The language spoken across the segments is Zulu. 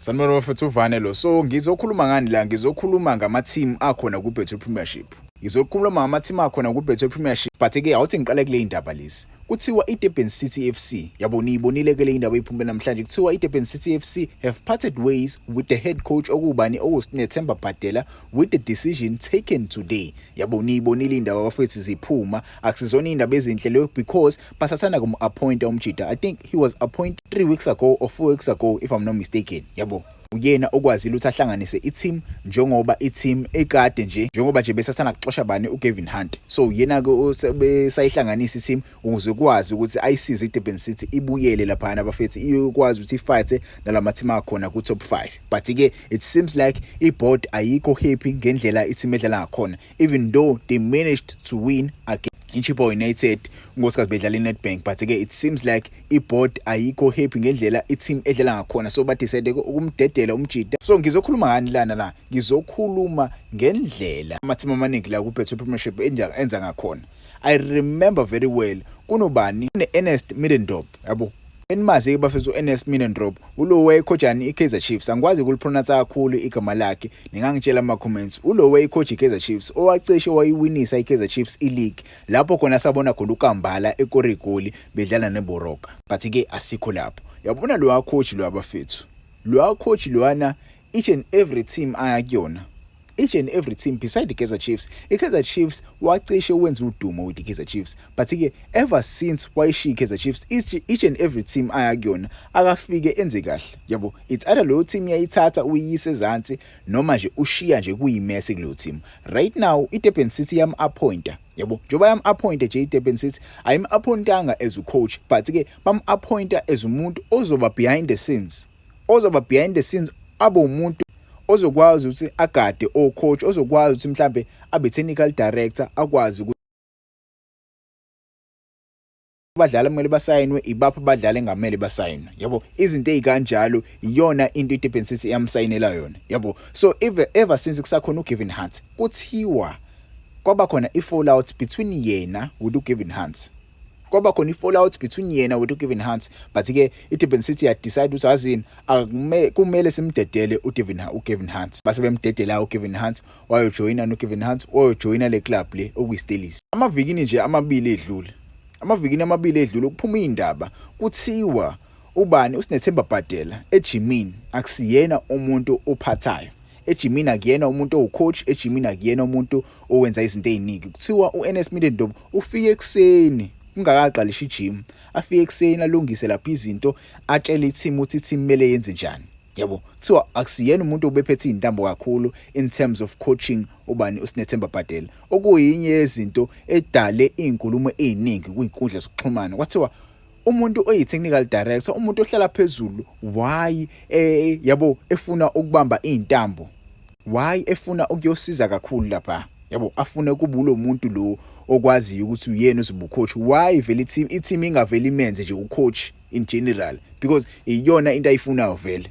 Sanibona bafethu uvane lo so ngizokhuluma ngani la ngizokhuluma ngama team akhona ku Betway Premiership ngizokhuluma ngama team akhona ku Betway Premiership but ke awuthi ngiqale kule indaba lezi kuthiwa iDurban City FC yabo niyibonile ke le indaba iphumbe namhlanje kuthiwa iDurban City FC have parted ways with the head coach okubani okusinethemba Bhadela with the decision taken today yabo niyibonile indaba bafethu ziphuma akusizona indaba ezinhle leyo because basasanda kumu-appointa umjita i think he was appointed three weeks ago or four weeks ago if i'm not mistaken yabo uyena okwazile ukuthi ahlanganise i-team njengoba i-team ekade nje njengoba nje besasana kuxosha bani ugavin hunt so uyena-ke besayihlanganisa i-team ukuze kwazi ukuthi ayisize idurban city ibuyele laphana bafethu iyokwazi ukuthi ifayithe nala mathimu akhona ku-top five but-ke it seems like i-board ayikho happy ngendlela i-team edlala ngakhona even though they managed to win again iChippa United unkosikazi bedlala iNedbank but ke it seems like iboard ayikho happy ngendlela iteam edlala ngakhona so badecide ukumdedela umjida so ngizokhuluma ngani lana la ngizokhuluma ngendlela amateam amaningi la kuBetway Premiership enza ngakhona I remember very well kunobani ne-Ernest Middendorp yabo enimazi-ke bafethu u-Ernest Middendorp ulo wayekhojani i-Kaizer Chiefs angikwazi ukulipronounce kakhulu igama lakhe ningangitshela ama-comments ulo wayekhoja i-Kaizer Chiefs owacishe wayiwinisa i-Kaizer Chiefs i-league lapho khona sabona khona uKambala ekora igoli bedlala neboroka but-ke asikho lapho yabona lowa coach lowa bafethu lowa coach lowana each and every team aya kuyona each and every team beside the Kaizer Chiefs iKaizer Chiefs wacishe wenza udumo with the Kaizer Chiefs but ke ever since wayishiya iKaizer Chiefs each and every team aya kuyona akafike enze kahle yabo it's either leyo team yayithatha uyise ezantsi noma nje ushiya nje kuyimese kuleyo team right now iDurban City yam appointer yabo njengoba yam appointa nje iDurban City ayim appointanga as a coach but ke bam appointa as umuntu ozoba behind the scenes ozoba behind the scenes abe umuntu ozokwazi ukuthi agade o coach ozokwazi ukuthi mhlambe abe technical director akwazi ukuthi abadlali kumele basayinwe ibaphi abadlali engamele basayinwe yabo izinto ezikanjalo iyona into iDurban City eyamsayinela yona yabo so ever, ever since kusakhona uGavin Hunt kuthiwa kwaba khona i-fallout between yena with uGavin Hunt kwaba khona i-fallout between yena wethu Kevin Hans but ke i-Durban City ya decide ukuthi azini akume kumele simdedele uDevin uKevin Hans base bemdedela uKevin Hans wayojoyina noKevin Hans wayojoyina le club le okuyiStellies amavikini nje amabili edlule amavikini amabili edlule kuphuma indaba kuthiwa ubani uSinethemba Bhadela ejimini akusiyena umuntu ophathayo ejimini akuyena umuntu owucoach ejimini akuyena umuntu owenza izinto eziningi kuthiwa uNS Middendorp ufike ekseni kungakaqalishi ijim afike ekseni alungise lapha izinto atshele iteam uthi team mele yenze njani yabo kuthiwa akusiyena umuntu obephethe izintambo kakhulu in terms of coaching ubani uSinethemba Bhadela okuyinye yezinto edale izinkulumo eziningi kwinkundla zokuxhumana kwathiwa umuntu oyi technical director umuntu ohlala phezulu why eh yabo efuna ukubamba izintambo why efuna ukuyosiza kakhulu lapha yabo afune kubulo muntu lo okwaziyo ukuthi uyena uzibucoach why vele i-team ingaveli imenze nje ucoach in general because iyona into ayifunayo vele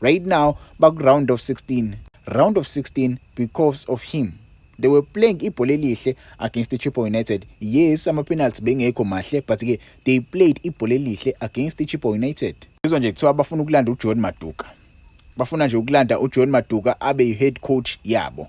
right now baku-round of 16 round of 16 because of him they were playing ibhola elihle against ichipo united yes ama-penalty bengekho mahle but-ke they played ibhola elihle against ichipo united izwa nje kuthiwa bafuna ukulanda ujohn maduka bafuna nje ukulanda ujohn maduka abe yi-head coach yabo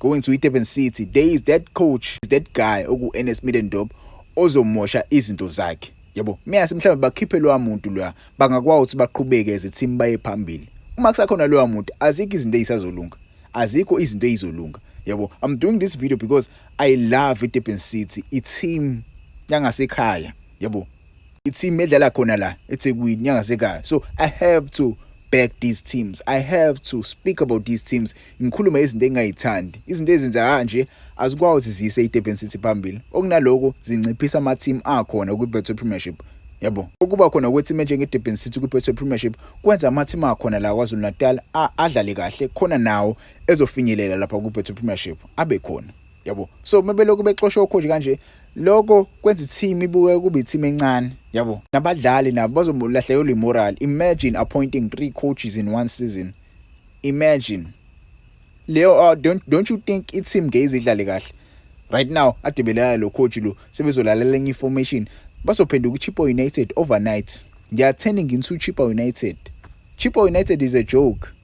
Going to iDurban City, there is that coach, is that guy okuEnest Middendorp ozomosha izinto zakhe. Yebo, miyase mhlawumbe bakhiphe lowa muntu loya, bangakwazi ukuthi baqhubeke as a team baye phambili. Uma kusakhona lowa muntu, azikho izinto ezisazolunga. Azikho izinto ezizolunga. Yebo, I'm doing this video because I love iDurban City, i-team yangasekhaya. Yebo, i-team edlala khona la eThekwini yangasekhaya so i have to back these teams i have to speak about these teams ngikhulume izinto engingayithandi izinto ezenza kanje azikwazi ziyise iDurban City phambili okunaloko zinciphisa ama team akhona kwi Betway Premiership yabo ukuba khona kweteam enjenge Durban City kwi Betway Premiership kwenza ama team akhona la kwaZulu Natal adlale kahle khona nawo ezofinyelela lapha ku Betway Premiership abe khona yabo so uma belokhu bexosha okhoji kanje lokho kwenza i-team ibuke kube i-team encane yabo nabadlali nabo bazomulahlekelwa i-moral imagine appointing three coaches in one season imagine leyo uh, don't, don't you think i-team ngeke idlale kahle right now adebelelayo lo coach lo sebezolalela enye i-formation bazophenduka uchipa united overnight they are turning into chipa united chipa united is a joke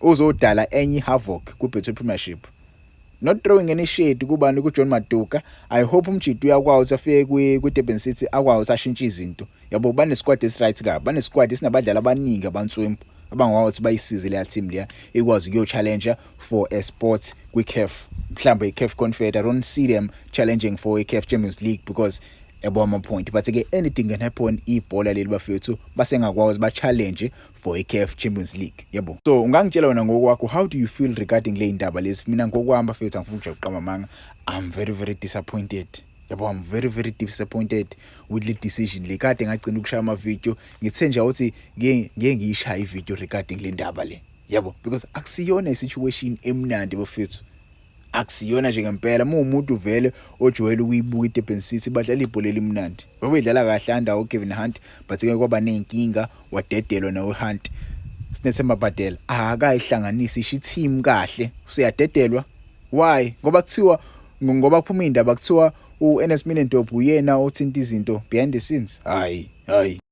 Uzodala enye ihavoc kuBetway Premiership. Not throwing any shade kubani kuJohn Maduka. I hope uMjita uyakwazi ukuthi afike kwi kwiDurban City akwazi ukuthi ashintshe izinto. Yabo banesquad esiright kabi. Banesquad esinabadlali abaningi abantswempu abangakwazi ukuthi bayisize leya team leya ikwazi ukuyo-challenger for a sport kwi-CAF. Mhlawumbe i-CAF Confed. I don't see them challenging for i-CAF Champions League because yabo ama-point. But-ke anything can happen ibhola leli bafethu basengakwazi ba-challenge for iCAF Champions League yabo so ungangitshela wena ngokwakho how do you feel regarding le ndaba lezi mina ngokwami bafethu angifuni nje ukuqamba amanga i'm very very disappointed yabo i'm very very disappointed with le decision le kade ngagcina ukushaya ama video ngithe nje ukuthi ngeke ngeke ngiyishaye i video regarding le ndaba le yabo because akusiyona i situation emnandi bafethu akusiyona nje ngempela uma umuntu vele ojwayele ukuyibuka iDurban City badlala ibhola elimnandi babedlala kahle under uKevin Hunt but ke kwaba nezinkinga wadedelwa nawe Hunt sinethemba Badela akayihlanganisi ishi team kahle useyadedelwa why ngoba kuthiwa ngoba kuphuma indaba kuthiwa uNS Minendorp uyena othinta izinto behind the scenes hayi hayi